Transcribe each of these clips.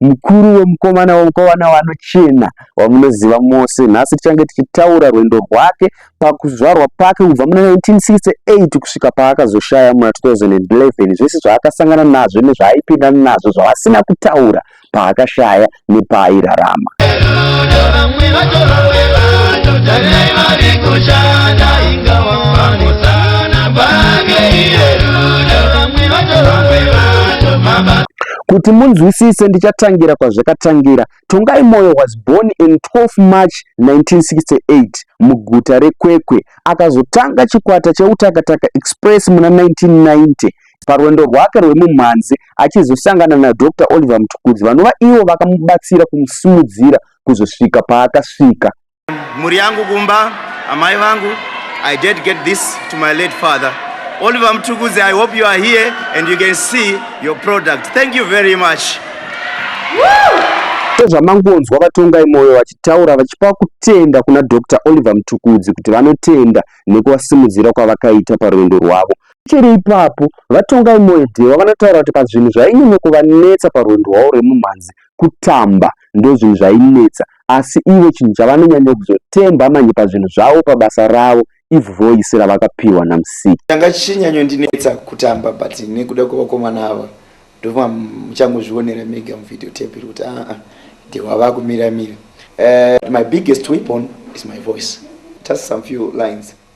mukuru wemukomana wemukomana wanochena wamunoziva mose nhasi tichange tichitaura rwendo rwake pakuzvarwa pake kubva muna 1968 kusvika paakazoshaya muna 2011 zvese zvaakasangana nazvo nezvaaipinda nazvo zvavasina kutaura paakashaya nepaairarama Kuti munzwisise ndichatangira kwazvakatangira. Tongai Moyo was born in 12 March 1968 muguta reKwekwe. Akazotanga chikwata cheUtakataka Express muna 1990 parwendo rwake rwemumhanzi achizosangana naDr Oliver Mtukudzi vanova ivo vakamubatsira kumusimudzira kuzosvika paakasvika. mhuri yangu kumba amai vangu i dedicate this to my late father oliver mtukudzi i hope you are here and you can see your product thank you very much sezvamangonzwa vatongai mwoyo vachitaura vachipa kutenda kuna dr oliver mtukudzi kuti vanotenda nekuvasimudzira kwavakaita parwendo rwavo chiri ipapo vatongai mwoyo dhewa vanotaura kuti pazvinhu zvainyanya kuvanetsa parwendo rwavo rwemumhanzi kutamba ndozvinhu zvainetsa asi ivo chinhu chavanonyanya kuzotemba manje pazvinhu zvavo pabasa ravo if voice ravakapiwa namusiki changa chichinyanyondinetsa kutamba but nekuda kwevakomana ava ndova muchangozvionera mega muvideo tape iri kuti aa ndewava kumiramira uh, eh, my biggest weapon is my voice just some few lines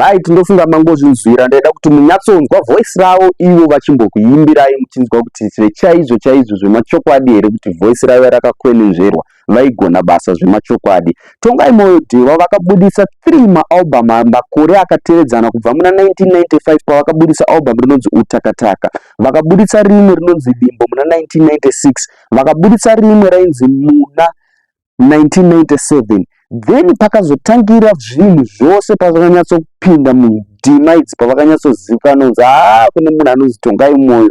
right ndofunga mangozvinzwira ndaida kuti munyatsonzwa voice ravo ivo vachimbokuimbirai muchinzwa kuti zvechaizvo chaizvo zvemachokwadi here kuti voice ravo rakakwenenzverwa vaigona basa zvemachokwadi. Tongai Moyo Dhewa vakabudisa 3 maalbum makore akatevedzana kubva muna 1995 pavakabudisa album rinonzi Utakataka, vakabudisa rimwe rinonzi Limbo muna 1996, vakabudisa rimwe rainzi Muna 1997 then pakazotangira zvinhu zvose pazvakanyatsopinda mudima idzi pavakanyatsozivikanwa kunzi haa kune munhu anonzi Tongai Moyo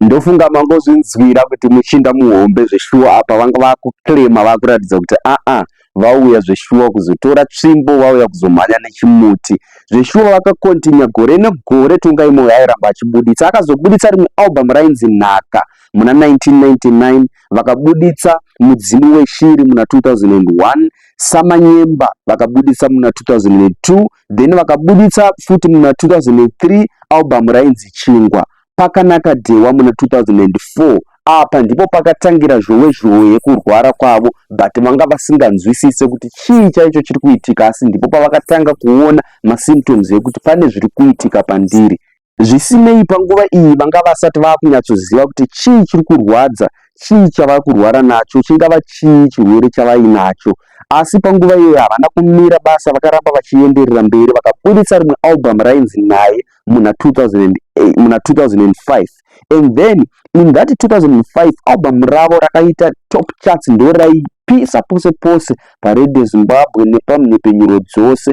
ndofunga mangozvinzwira kuti muchinda muhombe zveshuwa apa vanga vakuclaima vakuratidza kuti aa ah, ah, vauya zveshuwa kuzotora tsvimbo vauya kuzomhanya nechimuti zveshuwa vakakontinya gore negore tongai moyo airamba achibuditsa akazobuditsa rimwe album rainzi nhaka muna 1999 vakabuditsa mudzimu weshiri muna 2001 samanyemba vakabuditsa muna 2002 then vakabuditsa futi muna 2003 album rainzi chingwa pakanaka dhewa muna 2004 apa ndipo pakatangira zhowe zhowe yekurwara kwavo but vanga vasinganzwisise kuti chii chaicho chiri kuitika asi ndipo pavakatanga kuona masymptoms ekuti pane zviri kuitika pandiri Zvisinei, panguva iyi vanga vasati vava kunyatsoziva kuti chii chiri kurwadza, chii chavava kurwara nacho, chingava chii chirwere chavainacho. Asi panguva iyoyo havana kumira basa, vakaramba vachienderera mberi vakaburitsa rimwe album rainzi Naye muna 2005 and then in that 2005 album ravo rakaita top charts ndoraipisa pose pose paRadio Zimbabwe nepamhepfenyuro dzose.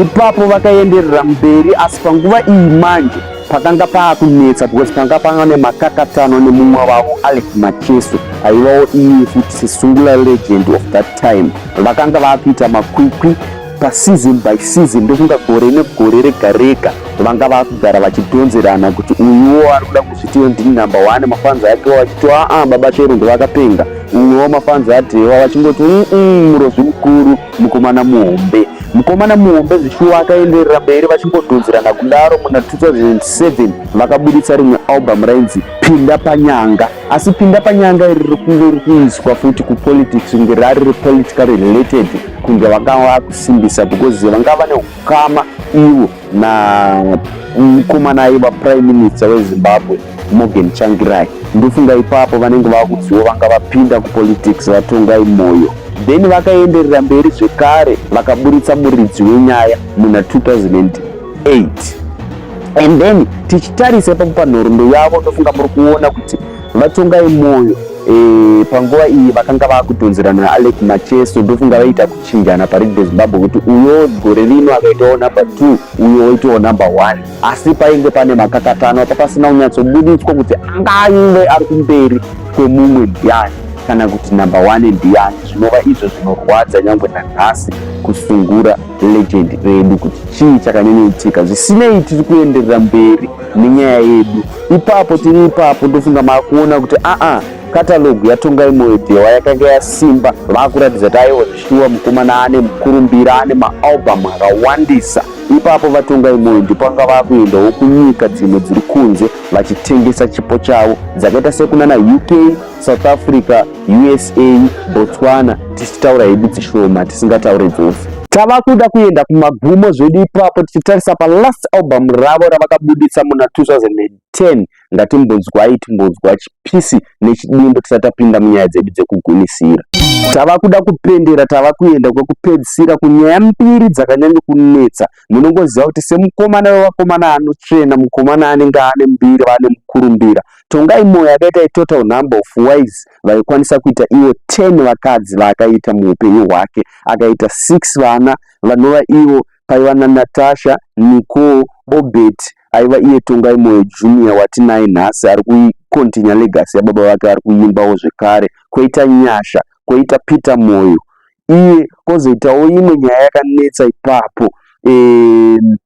ipapo vakaenderera mberi asi panguva iyi manje pakanga paakunetsa because panga panga nemakakatano nemumwe vavo alex macheso aivawo iye futi sesungula legend of that time vakanga vaakuita makwikwi paseason by season ndokunga gore negore rega rega vanga vakugara vachidhonzerana kuti uyuwo ari kuda kuzvitiwo ndini number one mafanzi ake wachiti aa baba chero ndovakapenga Mumwe wamafans aDhewa vachingoti umm murozvi mukuru mukomana muhombe. Mukomana muhombe zvishuwa akaenderera mberi vachingodhonzerana kudaro muna 2007 vakabuditsa rimwe album rainzi Pinda Panyanga. Asi Pinda Panyanga iri riri kunge riri kuiswa futi kupolitics kunge rari repolitically related kunge vakava kusimbisa because vanga vane Kama ivo na mukomana aiva prime minister wezimbabwe morgan changirai ndofunga ipapo vanenge vakuzivo vanga vapinda kupolitics vatongai moyo then vakaenderera mberi zvekare vakaburitsa muridzi wenyaya muna 2008 and then tichitarisa ipapo panhoroondo yavo ndofunga muri kuona kuti vatongai moyo e, panguva iyi vakanga vakutonzerana naalec macheso ndofunga vaita kuti chinjana parigi rezimbabwe kuti uyo gore rino akaitawo number two uyo oitawo number one asi painge pane makakatano apa pasina kunyatsobuditswa kuti angange ari kumberi kwemumwe ndiani kana kuti number one ndiani zvinova izvo zvinorwadza nyangwe nanhasi kusungura legend redu kuti chii chakanyanyaitika zvisinei tiri kuenderera mberi nenyaya yedu ipapo tiri ipapo ndofunga maakuona kuti aa Katalogu yaTongai Moedhewa yakanga yasimba, vakuratidza kuti aiwa zvishuwa mukomana ane mukurumbira, ane maalbum akawandisa. Ipapo VaTongai Moyo ndipo vanga vakuendawo kunyika dzimwe dziri kunze vachitengesa chipo chavo dzakaita sekunana UK, South Africa, USA, Botswana tichitaura hedu dzishoma tisingataure dzose. Tava kuda kuenda kumagumo zvedu ipapo tichitarisa palast album ravo ravakabuditsa muna 2010 ngatimbonzwai timbonzwa chipisi nechidimbu tisati tapinda munyaya dzedu dzekugunisira tava kuda kupendera tava kuenda kwekupedzisira kunyaya mbiri dzakanyanya kunetsa munongoziva kuti semukomana wevakomana anotsvena mukomana anenge ane mbiri vane mukurumbira tongai moyo yakaita itotal number of wise vaikwanisa kuita ivo 10 vakadzi vaakaita muupenyu hwake akaita 6 vana vanova ivo paiva naNatasha, Nicole, Obert aiva iye Tongai Moyo Junior watinaye nhasi ari kucontinua legacy yababa vake ari kuimbawo zvekare, koita Nyasha, koita Peter Moyo iye, kozoitawo imwe nyaya yakanetsa ipapo um,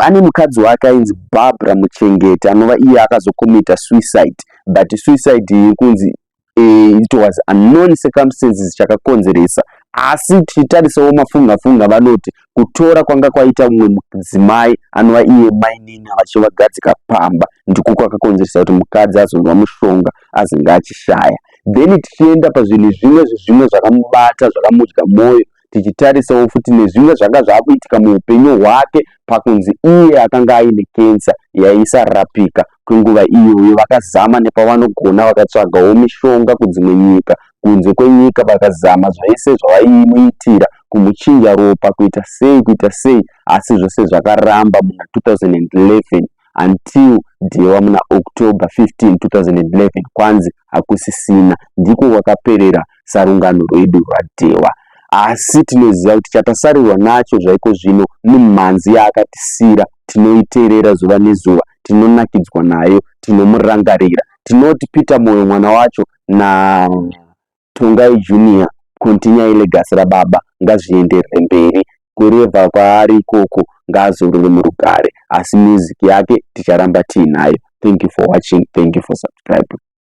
ane mukadzi wake ainzi Barbara Muchengeti anova iye akazocommita suicide but suicide iri kunzi eh, it was unknown circumstances chakakonzeresa asi tichitarisawo mafungafunga vanoti kutora kwanga kwaita mumwe mudzimai anova iye mainini vachivagadzika pamba ndiko kwakakonzeresa kuti mukadzi azonzwa mushonga azenge achishaya then tichienda pazvinhu zvimwe zvezvimwe zvakamubata zvakamudya mwoyo tichitarisawo futi nezvimwe zvanga zvakuitika muupenyu hwake pakunzi iye akanga aine kensa yaisarapika kwenguva iyoyo vakazama nepavanogona vakatsvagawo mishonga kudzimwe nyika kunze kwenyika vakazama zvese zvavaimuitira kumuchinja ropa kuita sei kuita sei asi zvose zvakaramba muna 2011 until Dhewa muna October 15, 2011 kwanzi hakusisina. Ndiko kwakaperera sarungano rwedu rwaDhewa. Asi tinoziva kuti chatasarirwa nacho zvaiko zvino mimhanzi yaakatisira tinoiterera zuva nezuva, tinonakidzwa nayo, tinomurangarira. Tinoti Peter Moyo mwana wacho na Tongai Junior continue legacy rababa ngazvienderere mberi kureva kwaari ikoko ngaazorore murugare asi music yake ticharamba tiinayo thank you for watching thank you for subscribing